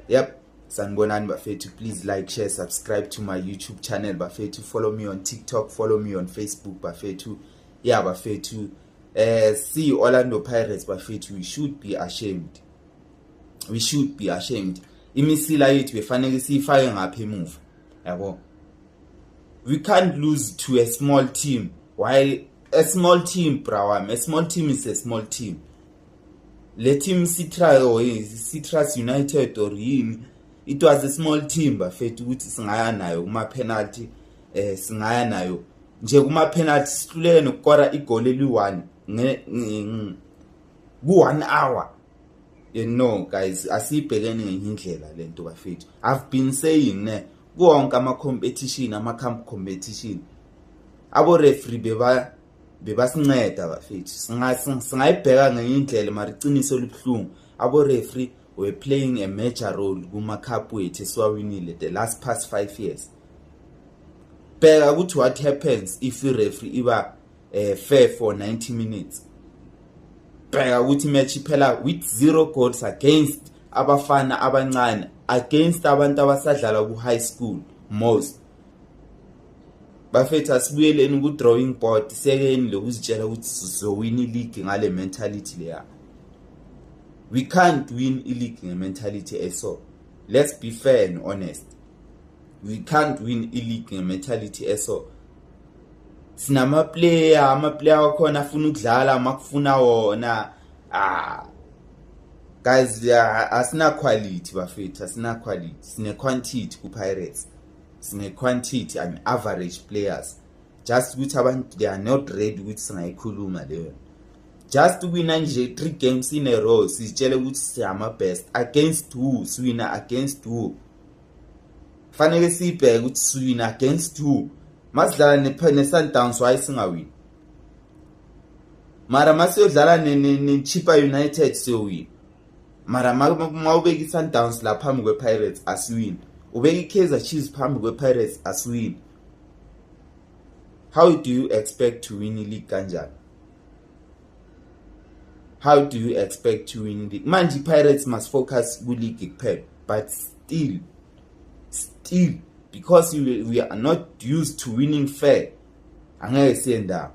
yep sanibonani bafethu please like share subscribe to my youtube channel bafethu follow me on tiktok follow me on facebook bafethu ya bafethu eh si Orlando Pirates bafethu we should be ashamed we should be ashamed imisila yethu befanele siyifake ngapha emuva yabo we can't lose to a small team why a small team brawam a small team is a small team le team citrus or citrus united or yini it was a small team bafethu ukuthi singaya nayo kuma penalty eh singaya nayo nje kuma penalty sihlulele nokukora igoli eli1 nge ku 1 hour you know guys asibhekene ngenye indlela lento bafethu i've been saying ne konke ama competition ama camp competition abo referee beba bebasinceda bafethu singayibheka ngenye indlela mara iqiniso elibuhlungu abo-refree were playing a major role kuma-cup wethu esiwawinile the last past five years bheka ukuthi what happens if i-refree iba um fair for 90 minutes bheka ukuthi imatch iphela with zero goals against abafana abancane against abantu abasadlala ku-high school most bafethu asibuyeleni ku-drawing board sekeni lokuzitshela ukuthi sizowina iligi ngale mentality leya we can't win iligi nge-mentality eso let's be fair and honest we can't win iligi nge-mentality eso sinamaplayer amaplayer wakhona afuna ukudlala makufuna wona ah guys asina quality bafethu asina quality sine quantity ku-pirates sine quantity and average players just ukuthi abantu they are not ready ukuthi singayikhuluma leyo just wina nje three games in a row sitshele ukuthi siyama best against who siwina against who fanele sibheke ukuthi siwina against who masidlala ne-sundowns waye singawini mara masiyodlala ne-chipa united siyowina mara ma ubeka i-sundowns la phambi kwe-pirates asiwini ubeka i-kaizer chiefs phambi kwe-pirates asiwini how do you expect to win i-league kanjani how do you expect to win i-league manje i-pirates must focus kwi-league kuphela but still still because we, we are not used to winning fair angeke siye ndawo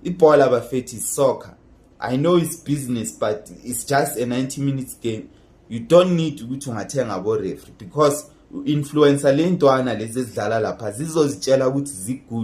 ibhola bafethi soccer I know it's business but it's just a 90 minutes game you don't need ukuthi ungathenga bo referee because influencer lentwana lezi ezidlala lapha zizozitshela ukuthi zigud